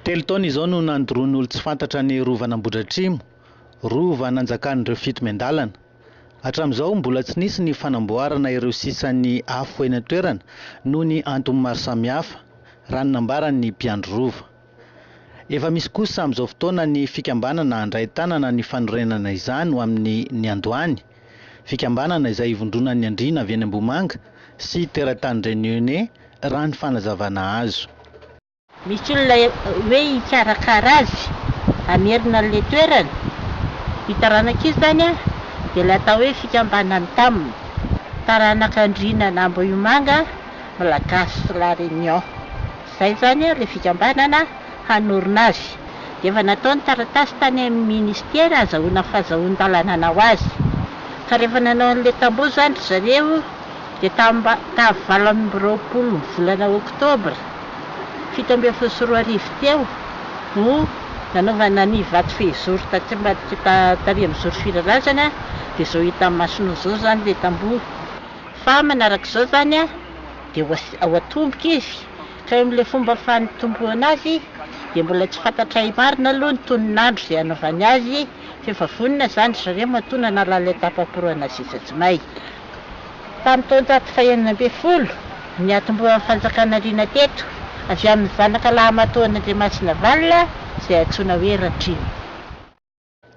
Telo taona izao no nandoroan'olo-tsy fantatra ny rovan'Ambohidratrimo, rova nanjakan'ireo fito miandalana. Hatramin'izao, mbola tsy nisy ny fanamboarana ireo sisan'ny afo eny an-toerana noho ny antony maro samihafa, raha ny nambaran'ny mpiandry rova. Efa misy kosa amin'izao fotoana ny fikambanana handray tanana ny fanorenana izany ho amin'ny niandohany, fikambanana izay ivondronan'ny andriana avy eny Ambohimanga sy teratany Réunionnais raha ny fanazavana azo. Misy olona hoe hikarakara azy, hamerina an'ilay toerana, io taranaka io izany dia ilay atao hoe fikambanan'ny Tam, taranak'andriana an'Ambohimanga, Malagasy La Réunion. Izay izany ilay fikambanana hanorina azy. Dia efa natao ny taratasy tany amin'ny Ministera hazahoana fazahoan-dalana hanao azy. Ka rehefa nanao an'ilay tamboho izany ry zareo dia tamba tamin'ny valo amby roapolo ny volana Oktobra fito ambin'ny folo sy roa arivo teo no nanaovana ny vato fehizoro taty ambadika ta- tany amin'ny Zoro Firarazana dia izao hitan'ny masonao izao izany ilay tamboho. Fa manarak'izao izany. Dia ao an-tomboka izy, ka eo amin'ilay fomba fanitombohana azy dia mbola tsy fantatray marina aloha ny tonon'andro izay hanaovany azy, fa efa vonona izany ry zareo matoa nanala an'ilay tapaporana zezatsimay. Tamin'ny taonjato fahenina ambin'ny folo, niantombohan'ny fanjakana liana teto, avy amin'ny zanaka lahy matoan'Andriamasinavalona izay antsoina hoe Ratrema.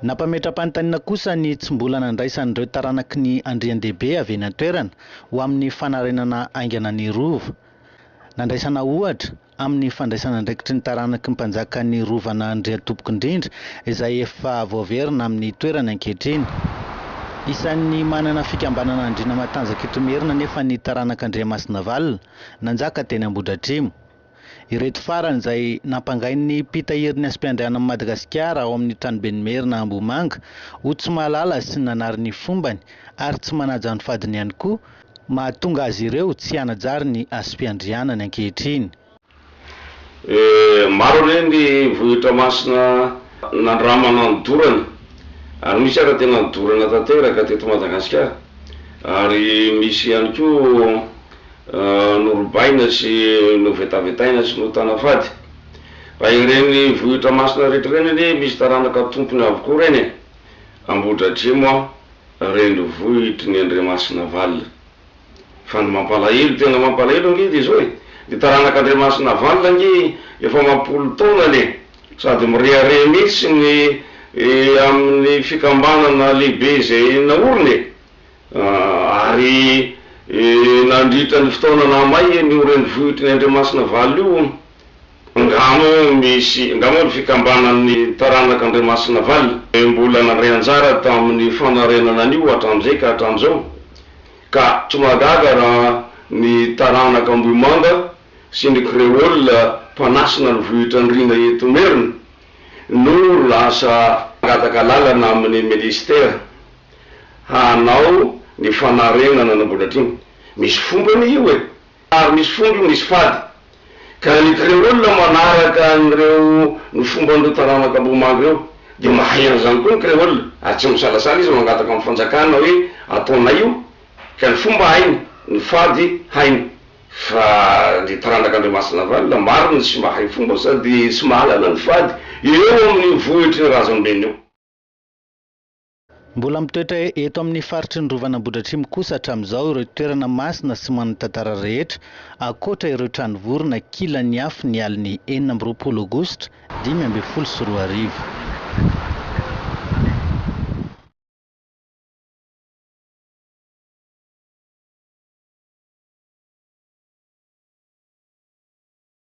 Nampametra-panontaniana kosa ny tsy mbola nandraisan'ireo taranaky ny Andriandehibe avy eny an-toerana ho amin'ny fanarenana haingana ny Rova. Nandraisana ohatra, amin'ny fandraisana andraikitry ny taranaky ny Mpanjakan'ny Rovan'Andriantompokindrindra izay efa voaverina amin'ny toerany ankehitriny. Isan'ny manana fikambanana andriana matanjaka eto Imerina anefa ny taranak'Andriamasinavalona, nanjaka teny Ambohidratrimo. Ireto farany izay nampangain'ny mpitahiry ny Asmpiandrianan'i Madagasikara ao amin'ny Tranoben'ny Merina Ambohimanga ho tsy mahalala sy nanary ny fombany ary tsy manaja ny fadiny ihany koa mahatonga azy ireo tsy hanajary ny Asmpiandrianany ankehitriny. Maro re ny vohitra masina nandramana ny dorana ary misy ara tena nidorana tanteraka teto Madagasikara ary misy ihany koa norobaina sy novetavetaina sy notana fady. Raha ireny vohitra masina rehetra ireny anie misy taranaka tompony avokoa ireny e! Ambohidratrimo an, renivohitry ny Andriamasinavalona. Fa ny mampalahelo, tena mampalahelo ange dia izao e! Ny taranak'Andriamasinavalona ange efa mampolo taona anie, sady mirehareha mihitsy ny amin'ny fikambanana lehibe izay naoriny e! Ary nandritra ny fotoana nahamay eny io renivohitry ny Andriamasina Valo io, nga moa misy, nga moa ny fikambanan' ny taranaka Andriamasina Valo, mbola nandray anjara tamin' ny fanarenana an' io hatramin' izay ka hatramin' izao, ka tsy mahagaga raha ny taranaka Ambohimanga sy ny Kreôla mpanasina ny vohitr' Andriana eto Imerina no lasa nangataka alalana amin' ny Ministera. Hanao ny fanarenana nambolatra iny. Misy fombany io e! Ary misy fomba io, misy fady. Ka ny Kreola manaraka an'ireo ny fomban'ireo taranaka Ambohimanga ireo. Dia mahay an'izany koa ny Kreola, ary tsy misalasala izy mangataka amin'ny fanjakana hoe ataonay io. Ka ny fomba hainy, ny fady hainy. Fa ny taranak'Andriamasinavalona marina tsy mahay fomba sady tsy mahalala ny fady eo amin'io vohitr'i Razambeny io. Mbola mitoetra eto amin'ny faritry ny Rovan'i Ambohidratrimo kosa hatramin'izao ireo toerana masina sy manan-tantara rehetra, ankoatra ireo trano vorona kilan'ny afo ny alin'ny enina amby roapolo aogositra dimy ambin'ny folo sy roa arivo.